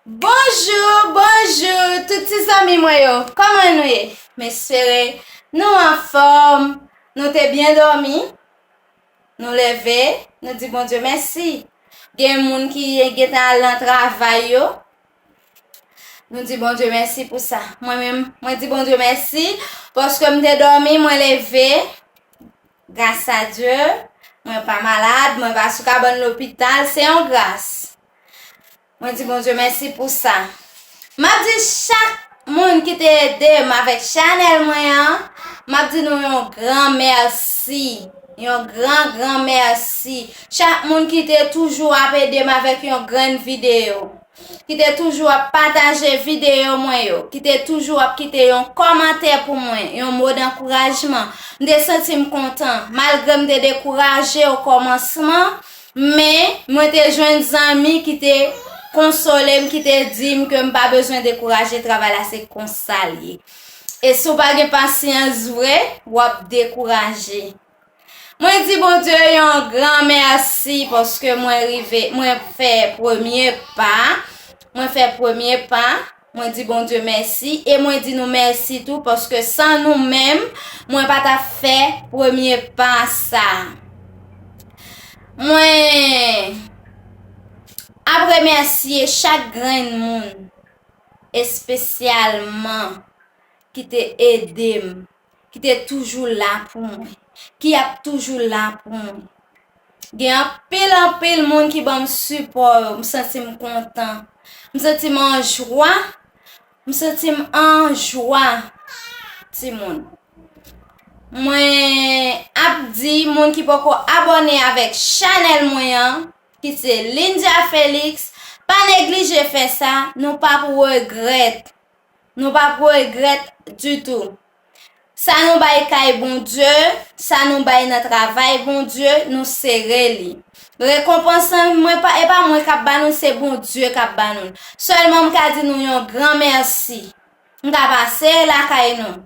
Bonjou bonjou tout ti zanmi mwen yo kòman nou ye m espere nou anfòm nou te byen dòmi nou leve nou di Bondye mèsi gen moun ki gentan al nan travay yo nou di Bondye mèsi pou sa mwen menm mwen di Bondye mèsi paske m te dòmi mwen leve Gras a Dye, mwen pa malad, mwen pa sou kabann lopital, se yon gras. Mwen di Bondye mèsi pou sa. Map di chak moun ki te ede m avèk chanèl mwen an, map di nou yon gran mèsi, yon gran gran mèsi. Chak moun ki te toujou ap ede m avèk yon grenn videyo. Ki te toujou ap pataje videyo mwen yo. Ki te toujou ap kite yon kòmantè pou mwen, yon mo dankourajman. M te santi m kontan. Malgre m te dekouraje okòmansman, men, mwen te jwenn zanmi ki te konsole m, ki te di m ke m pa bezwen dekouraje, travay la se konsa l ye. E si w pa gen pasyans vre, w ap dekouraje. Mwen di Bondye yon gran mèsi paske mwen rive, mwen fè premye pa, mwen fè premye pa, mwen di Bondye mèsi e mwen di nou mèsi tou paske san nou menm mwen pa ta fè premye pa sa. Mwen ap remèsye chak grenn moun espesyalman ki te ede m Ki te toujou la pou mwen. Ki ap toujou la pou mwen. Gen anpil anpil moun ki banm sipò yo. M santi m kontan. M santi m an jwa. M santi m an jwa. Ti moun. Mwen ap di moun ki poko abone avèk chanèl mwen an. Ki se Lindia Felix. Pa neglije fè sa. Nou pap regrèt. Nou pa pou regrèt ditou. Sa nou bay kay Bondye, sa nou bay nan travay Bondye, nou sere li. Rekonpans lan, mwen pa, e pa mwen k ap ba nou l, se Bondye k ap ba nou l. Sèlman m ka di nou yon gran mèsi. M ka pase lakay nou.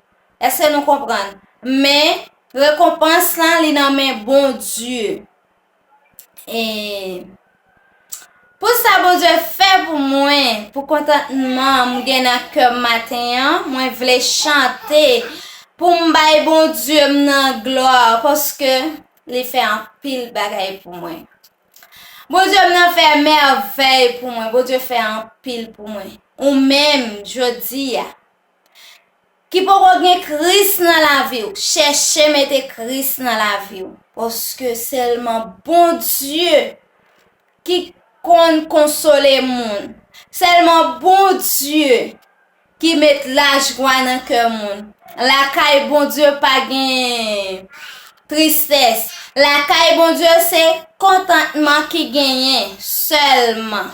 Èske nou konprann? Men, rekonpans lan, li nan men Bondye. Pou sa Bondye fè pou mwen, pou kontantman m gen nan kè m maten an, mwen vle chante pou m bay Bondye m nan glwa paske li fè anpil bagay pou mwen. Bondye m nan fè mèvèy pou mwen, Bondye fè anpil pou mwen. Ou menm, jodi a. ki poko gen Kris nan laviw chèche mete Kris nan laviw paske sèlman Bondye ki konn konsole moun sèlman Bondye ki met lajwa nan kè moun lakay Bondye pa gen tristès lakay Bondye se kontantman ki genyen sèlman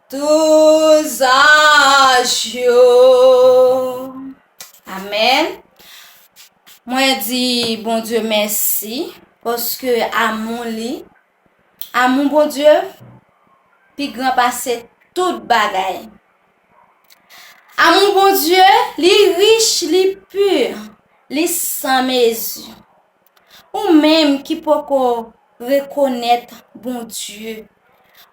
Tout zaj yo Amen Mwen di Bondye mèsi paske amou li amou Bondye pi gran pase tout bagay Amou Bondye li rich li pur li san mezi. Ou menm ki poko rekonèt Bondye,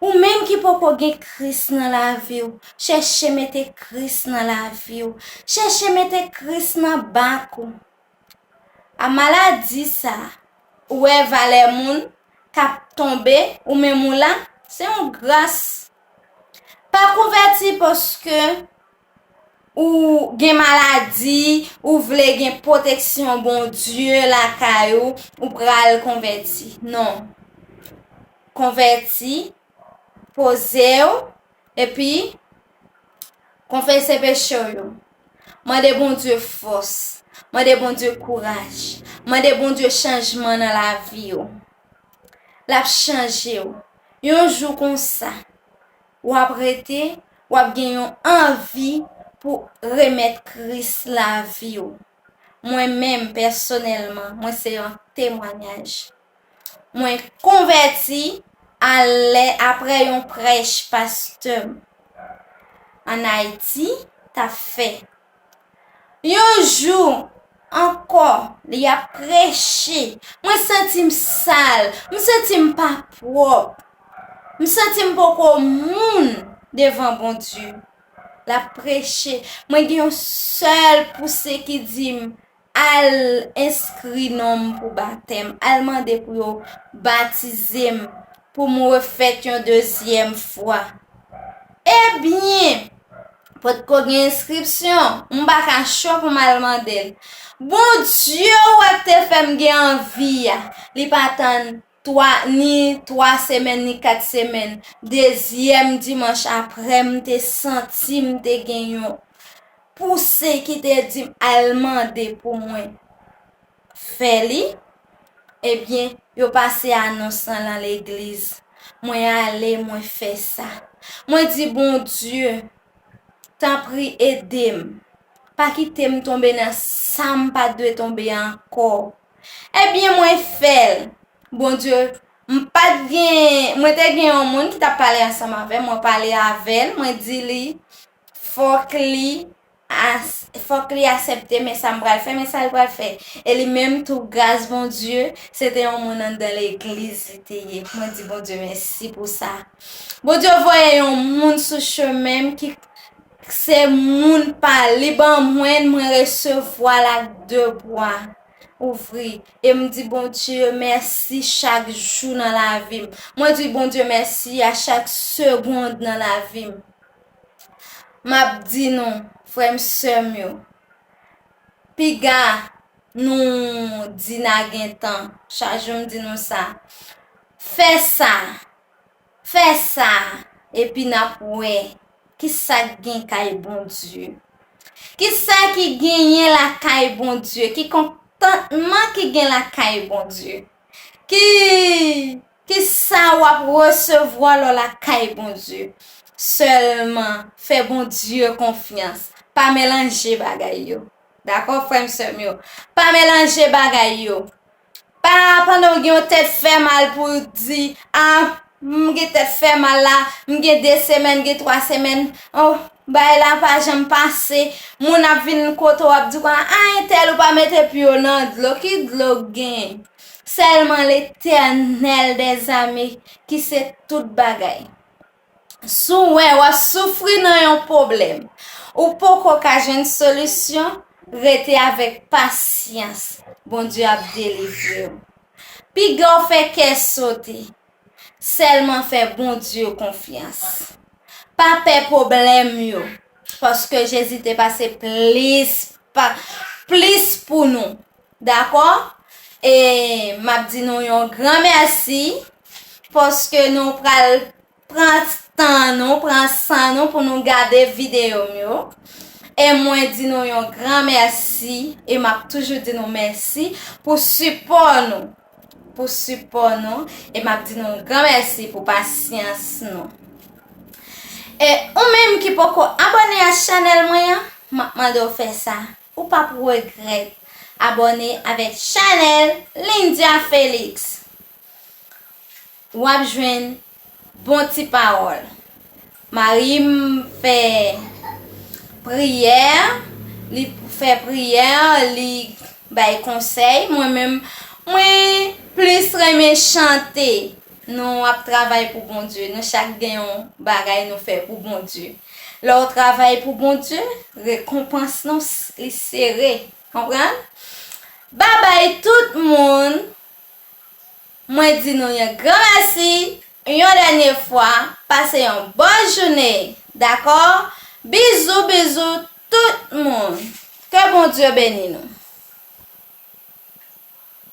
ou menm ki poko gen Kris nan lavi w, chèche mete Kris nan lavi w, chèche mete Kris nan bak ou. A maladi sa, ou wè valè moun kap tonbe ou menm ou la, se yon gras. Pa konvèti paske. Ou gen maladi, ou vle gen pwoteksyon Bondye lakay ou, ou pral konvèti. Non. Konvèti, poze ou, epi konfese peche ou yo. Mande Bondye fòs, mande Bondye kouraj, mande Bondye chanjman nan lavi ou. L ap chanje ou. Yon jou konsa. W ap rete, w ap gen yon anvi pou remèt Kris lavi w. Mwen menm, pèsonèlman, mwen se yon temwanyaj. Mwen konvèti a lè apre yon prèch pastè m ann Ayiti t ap fè Yon jou ankò li ap preche. Mwen santi m sal. M santi m pa pwòp. M santi m poko moun devan Bondye. L ap preche. Mwen gen yon sèl pouse ki di m. Al enskri non m pou batèm. Al mande pou yo batize m pou m refèt yon dezyèm fwa. Ebyen! Potko gen enskripsyon. M pa ka cho pou m al mande l. Bondye ou wè k te fè m gen anvi a, li pa tann 3 ni 3 semèn ni 4 semèn dezyèm dimanch aprè m te santi m te gen yon pouse ki te di m al mande pou mwen fè li ebyen yo pase anons lan lan legliz mwen ale mwen fè sa mwen di Bondye tanpri ede m pa kite m tonbe nan sa m pa dwe tonbe ankò. Ebyen mwen fèl Bondye m pat gen mwen te gen yon moun ki tap pale ansanm avèm mwen pale avèl mwen di li fòk li as fòk li asèpte men sam pral fè men sal pral fè e li menm tou gras Bondye se te yon moun anndan legliz li te ye mwen di Bondye mèsi pou sa Bondye voye yon moun sou chemenm ki Kse moun pa li ban mwen mwen resevwal ak de bwa ouvri em di Bondye mèsi chak jou nan lavim mwen di Bondye mèsi a chak segond nan lavim map di nou frèm sèm yo piga nou di na gentan chak jou m di nou sa fè sa. Fè sa, epi n ap wè ki sa k gen kay Bondye. Ki sa ki genyen lakay Bondye? Ki kontantman ki gen lakay Bondye? Ki ki sa w ap resevwa lè w lakay Bondye? Sèlman fè Bondye konfyans. Pa melanje bagay yo. Dakò frè m sè m yo? Pa melanje bagay yo. Pa pandan w gen yon tèt fè mal pou w di, a m gen tèt fè mal la, m gen 2 semèn, m gen 3 semèn, o bagay la pa janm pase, moun ap vin kote w ap di w konn a entèl ou pa mete pye w nan dlo, ki dlo k gen? Sèlman Letènèl dèzame ki se tout bagay. Si w wè w ap soufri nan yon pwoblèm ou poko ka jwenn solisyon, rete avèk pasyans, Bondye ap delivre w. Piga w fè kè sote, sèlman fè Bondye konfyans. Pa pè pwoblèm yo, paske Jezi te pase plis pou nou. Dakò e map di nou yon gran mèsi paske nou pral pran tan nou pran san nou pou nou gade videyo m yo e mwen di nou yon gran mèsi e map toujou di nou mèsi pou sipò nou pou sipò nou e map di nou yon gran mèsi pou pasyans nou e ou menm ki poko abòne a chanèl mwen an map mande w fè sa. Ou pap regrèt abòne avèk chanèl Lindia Felix. Wap jwenn bon ti pawòl. Marim fè priyè, li fè priyè, li bay konsèy, mwen menm mwen plis renmen chante. Nou ap travay pou Bondye. Nou chak gen yon bagay nou fè pou Bondye. Lè w travay pou Bondye, rekonpans nou li sere. Konprann? Babay tout moun. Mwen di nou yon gran mèsi. Yon dènye fwa, pase yon bon joune. Dakò? Bizou bizou tout moun. Ke Bondye beni nou.